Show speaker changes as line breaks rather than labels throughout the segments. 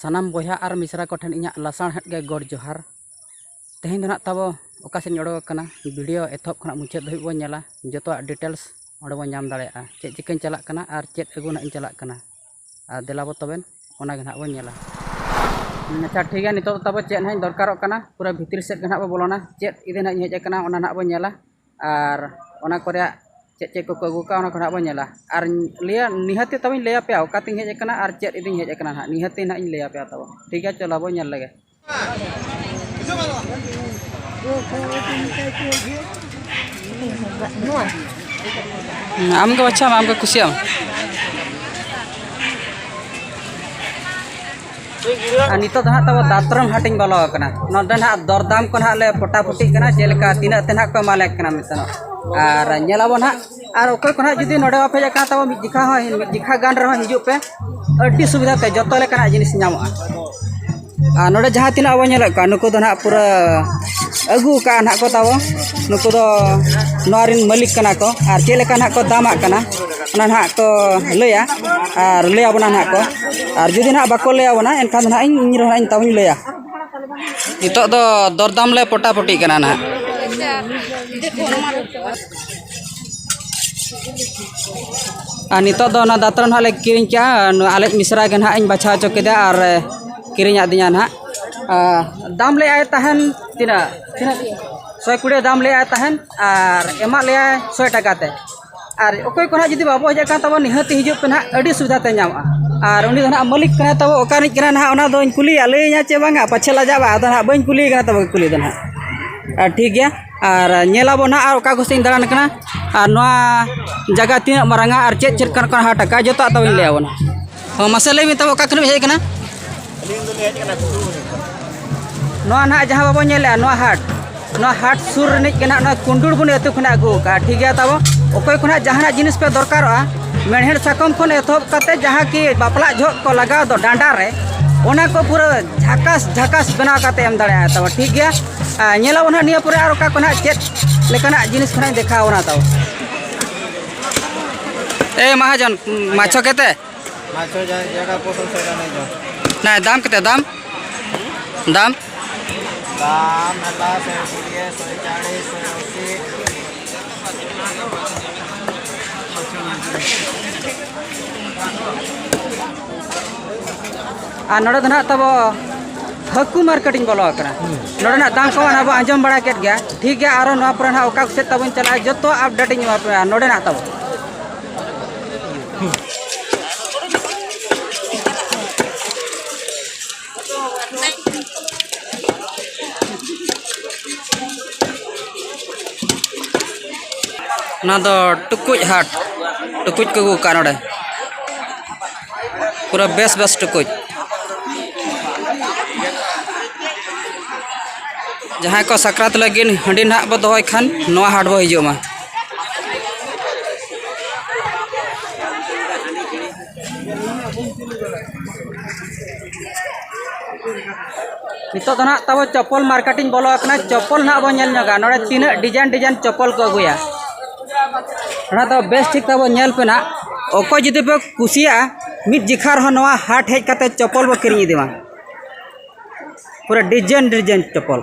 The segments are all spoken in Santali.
ᱥᱟᱱᱟᱢ ᱵᱚᱭᱦᱟ ᱟᱨ ᱢᱤᱥᱨᱟ ᱠᱚᱴᱷᱮᱱ ᱤᱧᱟᱹᱜ ᱞᱟᱥᱟᱬᱦᱮᱫ ᱜᱮ ᱜᱚᱰ ᱡᱚᱦᱟᱨ ᱛᱮᱦᱮᱧ ᱫᱚ ᱱᱟᱜ ᱛᱟᱵᱚ ᱚᱠᱟ ᱥᱮᱫ ᱤᱧ ᱚᱰᱚᱠ ᱟᱠᱟᱱᱟ ᱵᱷᱤᱰᱤᱭᱳ ᱮᱛᱚᱦᱚᱵ ᱠᱷᱚᱱᱟᱜ ᱢᱩᱪᱟᱹᱫ ᱫᱷᱟᱹᱵᱤᱡ ᱵᱚᱱ ᱧᱮᱞᱟ ᱡᱚᱛᱚᱣᱟᱜ ᱰᱤᱴᱮᱞᱥ ᱚᱸᱰᱮ ᱵᱚᱱ ᱧᱟᱢ ᱫᱟᱲᱮᱭᱟᱜᱼᱟ ᱪᱮᱫ ᱪᱤᱠᱟᱹᱧ ᱪᱟᱞᱟᱜ ᱠᱟᱱᱟ ᱟᱨ ᱪᱮᱫ ᱟᱹᱜᱩ ᱱᱟᱜ ᱤᱧ ᱪᱟᱞᱟᱜ ᱠᱟᱱᱟ ᱟᱨ ᱫᱮᱞᱟ ᱵᱚᱱ ᱛᱚᱵᱮ ᱚᱱᱟ ᱜᱮ ᱦᱟᱸᱜ ᱵᱚᱱ ᱧᱮᱞᱟ ᱟᱪᱪᱷᱟ ᱴᱷᱤᱠ ᱜᱮᱭᱟ ᱱᱤᱛᱚᱜ ᱫᱚ ᱛᱟᱵᱚ ᱪᱮᱫ ᱦᱟᱸᱜ ᱤᱧ ᱫᱚᱨᱠᱟᱨᱚᱜ ᱠᱟᱱᱟ ᱯᱩᱨᱟᱹ ᱵᱷᱤᱛᱨᱤ ᱥᱮᱫ ᱜᱮ ᱦᱟᱸᱜ ᱵᱚᱱ ᱵᱚᱞᱚᱱᱟ ᱪᱮᱫ ᱤᱫᱤ ᱦᱟᱸᱜ ᱤᱧ ᱦᱮᱡ ᱠᱟᱱᱟ ᱚᱱᱟ ᱦᱟᱸᱜ ᱵᱚᱱ ᱧᱮᱞᱟ ᱟᱨ ᱚᱱᱟ ᱠᱚ ᱨᱮᱭᱟᱜ ᱪᱮᱫ ᱪᱮᱫ ᱠᱚᱠᱚ ᱟᱹᱜᱩ ᱠᱟᱜᱼᱟ ᱚᱱᱟ ᱠᱚ ᱦᱟᱸᱜ ᱵᱚᱱ ᱧᱮᱞᱟ ᱟᱨ ᱞᱟᱹᱭᱟ ᱱᱤᱦᱟᱹᱛ ᱛᱟᱵᱚᱧ ᱞᱟᱹᱭ ᱟᱯᱮᱭᱟ ᱚᱠᱟ ᱛᱤᱧ ᱦᱮᱡ ᱠᱟᱱᱟ ᱟᱨ ᱪᱮᱫ ᱤᱫᱤᱧ ᱦᱮᱡ ᱠᱟᱱᱟ ᱦᱟᱸᱜ ᱱᱤᱦᱟᱹᱛ ᱜᱮ ᱦᱟᱸᱜ ᱤᱧ ᱞᱟᱹᱭ ᱟᱯᱮᱭᱟ ᱛᱟᱵᱚ ᱴᱷᱤᱠ ᱜᱮᱭᱟ ᱪᱚᱞᱚ ᱵᱚᱱ ᱧᱮᱞ ᱞᱮᱜᱮ ᱟᱢᱜᱮ ᱵᱟᱪᱷᱟᱣ ᱢᱮ ᱟᱢᱜᱮ ᱠᱩᱥᱤᱭᱟᱜ ᱟᱨ ᱱᱤᱛᱚᱜ ᱫᱚ ᱦᱟᱸᱜ ᱛᱟᱵᱚ ᱫᱟᱛᱨᱚᱢ ᱦᱟᱴ ᱤᱧ ᱵᱚᱞᱚ ᱟᱠᱟᱱᱟ ᱱᱚᱰᱮ ᱦᱟᱸᱜ ᱫᱚᱨᱫᱟᱢ ᱠᱚ ᱦᱟᱸᱜ ᱞᱮ ᱯᱚᱴᱟᱯᱚᱴᱤᱜ ᱠᱟᱱᱟ ᱪᱮᱫ ᱞᱮᱠᱟ ᱛᱤᱱᱟᱹᱜ ᱛᱮ ᱦᱟᱸᱜ ᱠᱚ ᱮᱢᱟᱞᱮ ᱠᱟᱱᱟ ᱢᱮᱱᱛᱮ ᱟᱨ ᱧᱮᱞ ᱟᱵᱚᱱ ᱦᱟᱸᱜ ᱟᱨ ᱚᱠᱚᱭ ᱠᱚ ᱱᱟᱦᱟᱜ ᱡᱩᱫᱤ ᱱᱚᱰᱮ ᱵᱟᱯᱮ ᱦᱮᱡ ᱟᱠᱟᱱ ᱛᱟᱵᱚᱱ ᱢᱤᱫ ᱡᱚᱠᱷᱟ ᱦᱚᱸ ᱢᱤᱫ ᱡᱚᱠᱷᱟ ᱜᱟᱱ ᱨᱮᱦᱚᱸ ᱦᱤᱡᱩᱜ ᱯᱮ ᱟᱹᱰᱤ ᱥᱩᱵᱤᱫᱷᱟ ᱛᱮ ᱡᱚᱛᱚ ᱞᱮᱠᱟᱱᱟᱜ ᱡᱤᱱᱤᱥ ᱧᱟᱢᱚᱜᱼᱟ ᱟᱨ ᱱᱚᱰᱮ ᱡᱟᱦᱟᱸ ᱛᱤᱱᱟᱹᱜ ᱟᱵᱚ ᱧᱮᱞᱮᱫ ᱠᱚᱣᱟ ᱱᱩᱠᱩ ᱫᱚ ᱱᱟᱦᱟᱜ ᱯᱩᱨᱟᱹ ᱟᱹᱜᱩ ᱟᱠᱟᱫᱼᱟ ᱱᱟᱦᱟᱜ ᱠᱚ ᱛᱟᱵᱚ ᱱᱩᱠᱩ ᱫᱚ ᱱᱚᱣᱟ ᱨᱮᱱ ᱢᱟᱹᱞᱤᱠ ᱠᱟᱱᱟ ᱠᱚ ᱟᱨ ᱪᱮᱫ ᱞᱮᱠᱟ ᱱᱟᱦᱟᱜ ᱠᱚ ᱫᱟᱢᱟᱜ ᱠᱟᱱᱟ ᱚᱱᱟ ᱱᱟᱦᱟᱜ ᱠᱚ ᱞᱟᱹᱭᱟ ᱟᱨ ᱞᱟᱹᱭ ᱟᱵᱚᱱᱟ ᱱᱟᱦᱟᱜ ᱠᱚ ᱟᱨ ᱡᱩᱫᱤ ᱱᱟᱦᱟᱜ ᱵᱟᱠᱚ ᱞᱟᱹᱭ ᱟᱵᱚᱱᱟ ᱮᱱᱠᱷᱟᱱ ᱫᱚ ᱱᱟᱦᱟᱜ ᱤᱧ ᱤᱧ ᱨᱮᱦᱚᱸ ᱤᱧ ᱛᱟᱵᱚᱧ ᱞᱟᱹᱭᱟ ᱱᱤᱛᱚᱜ ᱫᱚ ᱫᱚᱨᱫᱟᱢ ᱞᱮ ᱯᱚᱴᱟᱯᱚᱴᱤᱜ ᱠᱟᱱᱟ ᱱᱟᱦᱟᱜ ᱟᱨ ᱱᱤᱛᱚᱜ ᱫᱚ ᱚᱱᱟ ᱫᱟᱛᱨᱚᱢ ᱦᱟᱸᱜ ᱞᱮ ᱠᱤᱨᱤᱧ ᱠᱮᱜᱼᱟ ᱱᱚᱣᱟ ᱟᱞᱮᱭᱤᱡ ᱢᱤᱥᱨᱟ ᱜᱮ ᱦᱟᱸᱜ ᱤᱧ ᱵᱟᱪᱷᱟᱣ ᱦᱚᱪᱚ ᱠᱮᱫᱮᱭᱟ ᱟᱨ ᱠᱤᱨᱤᱧ ᱟᱹᱫᱤᱧᱟ ᱦᱟᱸᱜ ᱟᱨ ᱫᱟᱢ ᱞᱮᱜᱼᱟᱭ ᱛᱟᱦᱮᱱ ᱛᱤᱱᱟᱹᱜ ᱛᱤᱱᱟᱹᱜ ᱥᱚᱭ ᱠᱩᱲᱤ ᱫᱟᱢ ᱞᱮᱜᱼᱟᱭ ᱛᱟᱦᱮᱱ ᱟᱨ ᱮᱢᱟᱜ ᱞᱮᱭᱟᱭ ᱥᱚᱭ ᱴᱟᱠᱟ ᱛᱮ ᱟᱨ ᱚᱠᱚᱭ ᱠᱚ ᱦᱟᱸᱜ ᱡᱩᱫᱤ ᱵᱟᱵᱚ ᱦᱮᱡ ᱟᱠᱟᱱ ᱛᱟᱵᱚᱱ ᱱᱤᱦᱟᱹᱛ ᱦᱤᱡᱩᱜ ᱯᱮ ᱦᱟᱸᱜ ᱟᱹᱰᱤ ᱥᱩᱵᱤᱫᱷᱟ ᱯᱮ ᱧᱟᱢᱟ ᱟᱨ ᱩᱱᱤ ᱫᱚ ᱦᱟᱸᱜ ᱢᱟᱹᱞᱤᱠ ᱠᱟᱱᱟᱭ ᱛᱟᱵᱚ ᱚᱠᱟ ᱨᱤᱱᱤᱡ ᱠᱟᱱᱟᱭ ᱦᱟᱸᱜ ᱚᱱᱟ ᱫᱚᱧ ᱠᱩᱞᱤᱭᱮᱭᱟ ᱞᱟᱹᱭᱟᱹᱧᱟᱭ ᱪᱮ ᱵᱟᱝᱟ ᱯᱟᱪᱷᱮ ᱞᱟᱡᱟᱜᱼᱟ ᱟᱫᱚ ᱦᱟᱸᱜ ᱵᱟᱹᱧ ᱠᱩᱞᱤᱭᱮ ᱠᱟᱱᱟ ᱛᱚᱵᱮ ᱠᱩᱞᱤ ᱫᱚ ᱦᱟᱸᱜ ᱟᱨ ᱴᱷᱤᱠ ᱜᱮᱭᱟ ᱟᱨ ᱧᱮᱞ ᱟᱵᱚ ᱱᱟᱦᱟᱜ ᱟᱨ ᱚᱠᱟ ᱠᱚᱥᱮᱫ ᱤᱧ ᱫᱟᱬᱟᱱ ᱠᱟᱱᱟ ᱟᱨ ᱱᱚᱣᱟ ᱡᱟᱭᱜᱟ ᱛᱤᱱᱟᱹᱜ ᱢᱟᱨᱟᱝᱟ ᱟᱨ ᱪᱮᱫ ᱪᱮᱫ ᱠᱟᱱ ᱠᱟᱱ ᱦᱟᱴ ᱟᱠᱟᱫᱼᱟ ᱡᱚᱛᱚᱣᱟᱜ ᱛᱟᱵᱚᱱ ᱞᱟᱹᱭ ᱟᱵᱚᱱᱟ ᱦᱚᱸ ᱢᱟᱥᱮ ᱞᱟᱹᱭ ᱢᱮ ᱛᱟᱵᱚ ᱚᱠᱟ ᱠᱷᱚᱱ ᱦᱮᱡ ᱠᱟᱱᱟ ᱱᱚᱣᱟ ᱱᱟᱦᱟᱜ ᱡᱟᱦᱟᱸ ᱵᱟᱵᱚ ᱧᱮᱞᱮᱜᱼᱟ ᱱᱚᱣᱟ ᱦᱟᱴ ᱱᱚᱣᱟ ᱦᱟᱴ ᱥᱩᱨ ᱨᱤᱱᱤᱡ ᱜᱮ ᱱᱟᱦᱟᱜ ᱱᱚᱣᱟ ᱠᱩᱱᱰᱩᱲ ᱵᱚᱱ ᱟᱹᱛᱩ ᱠᱷᱚᱱᱟᱜ ᱟᱹᱜᱩ ᱟᱠᱟᱫᱼᱟ ᱴᱷᱤᱠ ᱜᱮᱭᱟ ᱛᱟᱵᱚ ᱚᱠᱚᱭ ᱠᱚ ᱱᱟᱦᱟᱜ ᱡᱟᱦᱟᱱᱟᱜ ᱡᱤᱱᱤᱥ ᱯᱮ ᱫᱚᱨᱠᱟᱨᱚᱜᱼᱟ ᱢᱮᱬᱦᱮᱫ ᱥᱟᱠᱚᱢ ᱠᱷᱚᱱ ᱮᱛᱚᱦᱚᱵ ᱠᱟᱛᱮ ᱡᱟᱦᱟᱸ ᱠᱤ ᱵᱟᱯᱞᱟ ᱡᱚᱦᱚᱜ ᱠᱚ ᱞᱟᱜᱟᱣ ᱫᱚ ᱰᱟᱸᱰᱟ ᱨᱮ ᱚᱱᱟ ᱠᱚ ᱯᱩᱨᱟᱹ ᱡᱷᱟᱠᱟᱥ ᱡᱷᱟᱠᱟᱥ ᱵᱮᱱᱟᱣ ᱠᱟᱛᱮ ᱮᱢ ᱫᱟᱲᱮᱭᱟᱜᱼᱟ ᱛᱟᱵᱚ ᱴᱷᱤᱠ ᱜᱮᱭᱟ ᱧᱮᱞᱟᱵᱚ ᱱᱟᱦᱟᱜ ᱱᱤᱭᱟᱹ ᱯᱚᱨᱮ ᱟᱨ ᱚᱠᱟ ᱠᱚ ᱱᱟᱦᱟᱜ ᱪᱮᱫ ᱞᱮᱠᱟᱱᱟᱜ ᱡᱤᱱᱤᱥ ᱠᱚ ᱱᱟᱦᱟᱜ ᱫᱮᱠᱷᱟᱣ ᱵᱚᱱᱟ ᱛᱟᱵᱚ ᱮ ᱢᱟᱦᱟᱡᱚᱱ ᱢᱟᱪᱷᱚ ᱠᱮᱛᱮ ᱢᱟᱪᱷᱚ ᱡᱟᱭᱜᱟ
ᱯᱚᱴᱚᱞ ᱥᱮᱫᱟ ᱱᱮ ᱡᱚ ᱱᱟᱭ ᱫᱟᱢ ᱠᱮᱛᱮ ᱫᱟᱢ
ᱫᱟᱢ ᱫᱟᱢ ᱦᱮᱞᱟ
ᱥᱮ ᱠᱩᱲᱤᱭᱮ ᱥᱮ ᱪᱟᱲᱤ ᱥᱮ ᱚᱥᱤ Thank you.
ᱟᱨ ᱱᱚᱰᱮ ᱫᱚ ᱱᱟᱦᱟᱜ ᱛᱟᱵᱚ ᱦᱟᱹᱠᱩ ᱢᱟᱨᱠᱮᱴ ᱤᱧ ᱵᱚᱞᱚ ᱟᱠᱟᱱᱟ ᱱᱚᱰᱮ ᱱᱟᱜ ᱫᱟᱢ ᱠᱚ ᱟᱵᱚ ᱟᱸᱡᱚᱢ ᱵᱟᱲᱟ ᱠᱮᱫ ᱜᱮᱭᱟ ᱴᱷᱤᱠ ᱜᱮᱭᱟ ᱟᱨᱚ ᱱᱚᱣᱟ ᱯᱚᱨᱮ ᱱᱟᱦᱟᱜ ᱚᱠᱟ ᱥᱮᱫ ᱛᱟᱵᱚᱱ ᱪᱟᱞᱟᱜᱼᱟ ᱡᱚᱛᱚ ᱟᱯᱰᱮᱴ ᱤᱧ ᱮᱢᱟ ᱯᱮᱭᱟ ᱱᱚᱰᱮ ᱱᱟᱜ ᱛᱟᱵᱚ ᱚᱱᱟ ᱫᱚ ᱴᱩᱠᱩᱡ ᱦᱟᱴ ᱴᱩᱠᱩᱡ ᱠᱚ ᱟᱹᱜᱩ ᱠᱟᱜᱼᱟ ᱱᱚᱰᱮ ᱯᱩᱨᱟᱹ ᱵᱮᱥ ᱵᱮᱥ ᱴᱩᱠᱩᱡ ᱡᱟᱦᱟᱸᱭ ᱠᱚ ᱥᱟᱠᱨᱟᱛ ᱞᱟᱹᱜᱤᱫ ᱦᱟᱺᱰᱤ ᱱᱟᱦᱟᱜ ᱵᱚ ᱫᱚᱦᱚᱭ ᱠᱷᱟᱱ ᱱᱚᱣᱟ ᱦᱟᱴ ᱵᱚ ᱦᱤᱡᱩᱜ ᱢᱟ ᱱᱤᱛᱚᱜ ᱫᱚ ᱱᱟᱦᱟᱜ ᱛᱟᱵᱚ ᱪᱚᱯᱚᱞ ᱢᱟᱨᱠᱮᱴ ᱤᱧ ᱵᱚᱞᱚ ᱟᱠᱟᱱᱟ ᱪᱚᱯᱚᱞ ᱱᱟᱦᱟᱜ ᱵᱚᱱ ᱧᱮᱞ ᱧᱚᱜᱟ ᱱᱚᱰᱮ ᱛᱤᱱᱟᱹᱜ ᱰᱤᱡᱟᱭᱤᱱ ᱰᱤᱡᱟᱭᱤᱱ ᱪᱚᱯᱚᱞ ᱠᱚ ᱟᱹᱜᱩᱭᱟ ᱚᱱᱟ ᱫᱚ ᱵᱮᱥ ᱴᱷᱤᱠ ᱛᱟᱵᱚ ᱧᱮᱞ ᱯᱮ ᱱᱟᱦᱟᱜ ᱚᱠᱚᱭ ᱡᱩᱫᱤ ᱯᱮ ᱠᱩᱥᱤᱭᱟᱜᱼᱟ ᱢᱤᱫ ᱡᱮᱠᱷᱟ ᱨᱮᱦᱚᱸ ᱱᱚᱣᱟ ᱦᱟᱴ ᱦᱮᱡ ᱠᱟᱛᱮ ᱪᱚᱯᱚᱞ ᱵᱚ ᱠᱤᱨᱤᱧ ᱤᱫᱤ ᱢᱟ ᱯᱩᱨᱟᱹ ᱰᱤᱡᱟᱭᱤᱱ ᱰᱤᱡᱟᱭᱤᱱ ᱪᱚᱯᱚᱞ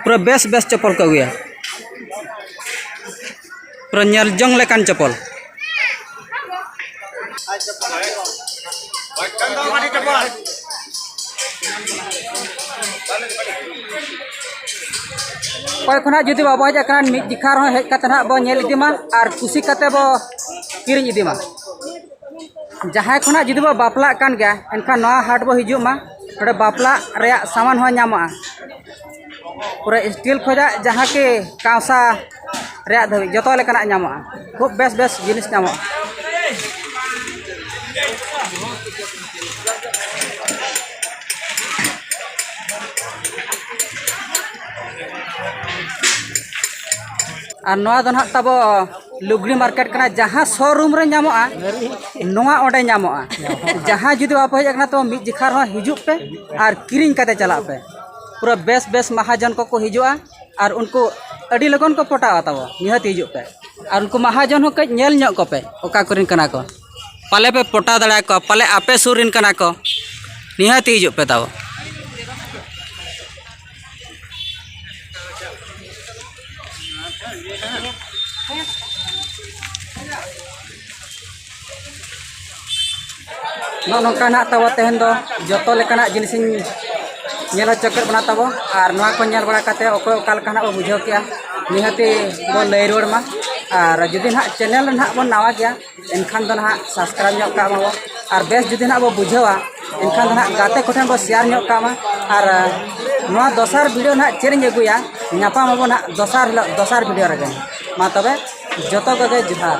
ᱯᱩᱨᱟᱹ ᱵᱮᱥ ᱵᱮᱥ ᱪᱚᱯᱚᱞ ᱠᱚ ᱟᱹᱜᱩᱭᱟ ᱯᱩᱨᱟᱹ ᱧᱮᱞ ᱡᱚᱝ ᱞᱮᱠᱟᱱ ᱪᱚᱯᱚᱞ ᱚᱠᱚᱭ ᱠᱷᱚᱱᱟᱜ ᱡᱩᱫᱤ ᱵᱟᱵᱚ ᱦᱮᱡ ᱟᱠᱟᱱᱟ ᱢᱤᱫ ᱡᱮᱠᱷᱟ ᱨᱮᱦᱚᱸ ᱦᱮᱡ ᱠᱟᱛᱮ ᱱᱟᱦᱟᱜ ᱵᱚ ᱧᱮᱞ ᱤᱫᱤ ᱢᱟ ᱟᱨ ᱠᱩᱥᱤ ᱠᱟᱛᱮ ᱵᱚ ᱠᱤᱨᱤᱧ ᱤᱫᱤ ᱢᱟ ᱡᱟᱦᱟᱸᱭ ᱠᱷᱚᱱᱟᱜ ᱡᱩᱫᱤ ᱵᱚ ᱵᱟᱯᱞᱟᱜ ᱠᱟᱱ ᱜᱮᱭᱟ ᱮᱱᱠᱷᱟᱱ ᱱᱚᱣᱟ ᱦᱟᱴ ᱵᱚ ᱦᱤᱡᱩᱜ ᱢᱟ ᱱᱚᱰᱮ ᱵᱟᱯᱞᱟ ᱨᱮᱭᱟᱜ ᱥᱟᱢᱟᱱ ᱦᱚᱸ ᱧᱟᱢᱚᱜᱼᱟ ᱯᱩᱨᱟᱹ ᱥᱴᱤᱞ ᱠᱷᱚᱱᱟᱜ ᱡᱟᱦᱟᱸ ᱠᱤ ᱠᱟᱸᱥᱟ ᱨᱮᱭᱟᱜ ᱫᱷᱟᱹᱵᱤᱡ ᱡᱚᱛᱚ ᱞᱮᱠᱟᱱᱟᱜ ᱧᱟᱢᱚᱜᱼᱟ ᱠᱷᱩᱵ ᱵᱮᱥ ᱵᱮᱥ ᱡᱤᱱᱤᱥ ᱧᱟᱢᱚᱜᱼᱟ ᱟᱨ ᱱᱚᱣᱟ ᱫᱚ ᱱᱟᱦᱟᱜ ᱛᱟᱵᱚ ᱞᱩᱜᱽᱲᱤ ᱢᱟᱨᱠᱮᱴ ᱠᱟᱱᱟ ᱡᱟᱦᱟᱸ ᱥᱳᱨᱩᱢ ᱨᱮ ᱧᱟᱢᱚᱜᱼᱟ ᱱᱚᱣᱟ ᱚᱸᱰᱮ ᱧᱟᱢᱚᱜᱼᱟ ᱡᱟᱦᱟᱸ ᱡᱩᱫᱤ ᱵᱟᱯᱮ ᱦᱮᱡ ᱟᱠᱟᱱᱟ ᱛᱚ ᱢᱤᱫ ᱡᱮᱠᱷᱟ ᱨᱮᱦᱚᱸ ᱦᱤᱡᱩᱜ ᱯᱮ ᱟᱨ ᱠᱤᱨᱤᱧ ᱠᱟᱛᱮᱫ ᱪᱟᱞᱟᱜ ᱯᱮ ᱯᱩᱨᱟᱹ ᱵᱮᱥ ᱵᱮᱥ ᱢᱟᱦᱟᱡᱚᱱ ᱠᱚᱠᱚ ᱦᱤᱡᱩᱜᱼᱟ ᱟᱨ ᱩᱱᱠᱩ ᱟᱹᱰᱤ ᱞᱚᱜᱚᱱ ᱠᱚ ᱯᱚᱴᱟᱜᱼᱟ ᱛᱟᱵᱚ ᱱᱤᱦᱟᱹᱛ ᱦᱤᱡᱩᱜ ᱯᱮ ᱟᱨ ᱩᱱᱠᱩ ᱢᱟᱦᱟᱡᱚᱱ ᱦᱚᱸ ᱠᱟᱹᱡ ᱧᱮᱞ ᱧᱚᱜ ᱠᱚᱯᱮ ᱚᱠᱟ ᱠᱚᱨᱮᱱ ᱠᱟᱱᱟ ᱠᱚ ᱯᱟᱞᱮ ᱯᱮ ᱯᱚᱴᱟᱣ ᱫᱟᱲᱮ ᱟᱠᱚᱣᱟ ᱯᱟᱞᱮ ᱟᱯᱮ ᱥᱩᱨ ᱨᱮᱱ ᱠᱟᱱᱟ ᱠᱚ ᱱᱤᱦᱟᱹᱛ ᱦᱤᱡᱩᱜ ᱯᱮ ᱛᱟᱵᱚ ᱱᱚᱜᱼᱚ ᱱᱚᱝᱠᱟ ᱱᱟᱦᱟᱜ ᱛᱟᱵᱚ ᱛᱮᱦᱮᱧ ᱫᱚ ᱡᱚᱛᱚ ᱞᱮᱠᱟᱱᱟᱜ ᱡᱤᱱᱤᱥᱤᱧ ᱧᱮᱞ ᱦᱚᱪᱚ ᱠᱮᱫ ᱵᱚᱱᱟ ᱛᱟᱵᱚ ᱟᱨ ᱱᱚᱣᱟ ᱠᱚ ᱧᱮᱞ ᱵᱟᱲᱟ ᱠᱟᱛᱮ ᱚᱠᱚᱭ ᱚᱠᱟ ᱞᱮᱠᱟ ᱱᱟᱦᱟᱜ ᱵᱚ ᱵᱩᱡᱷᱟᱹᱣ ᱠᱮᱜᱼᱟ ᱱᱤᱦᱟᱹᱛᱤ ᱵᱚ ᱞᱟᱹᱭ ᱨᱩᱣᱟᱹᱲ ᱢᱟ ᱟᱨ ᱡᱩᱫᱤ ᱱᱟᱦᱟᱜ ᱪᱮᱱᱮᱞ ᱨᱮ ᱱᱟᱦᱟᱜ ᱵᱚᱱ ᱱᱟᱣᱟ ᱜᱮᱭᱟ ᱮᱱᱠᱷᱟᱱ ᱫᱚ ᱱᱟᱦᱟᱜ ᱥᱟᱵᱥᱠᱨᱟᱭᱤᱵᱽ ᱧᱚᱜ ᱠᱟᱜ ᱢᱟᱵᱚ ᱟᱨ ᱵᱮᱥ ᱡᱩᱫᱤ ᱱᱟᱦᱟᱜ ᱵᱚ ᱵᱩᱡᱷᱟᱹᱣᱟ ᱮᱱᱠᱷᱟᱱ ᱫᱚ ᱱᱟᱦᱟᱜ ᱜᱟᱛᱮ ᱠᱚᱴᱷᱮᱱ ᱵᱚ ᱥᱮᱭᱟᱨ ᱧᱚᱜ ᱠᱟᱜ ᱢᱟ ᱟᱨ ᱱᱚᱣᱟ ᱫᱚᱥᱟᱨ ᱵᱷᱤᱰᱤᱭᱳ ᱱᱟᱦᱟᱜ ᱪᱮᱫ ᱤᱧ ᱟᱹᱜᱩᱭᱟ ᱧᱟᱯᱟᱢ ᱟᱵᱚ ᱱᱟᱦᱟᱜ ᱫᱚᱥᱟᱨ ᱦᱤᱞᱳᱜ ᱫᱚᱥᱟᱨ ᱵᱷᱤᱰᱤᱭᱳ ᱨᱮᱜᱮ ᱢᱟ ᱛᱚᱵᱮ ᱡᱚᱛᱚ ᱠᱚᱜᱮ ᱡᱚᱦᱟᱨ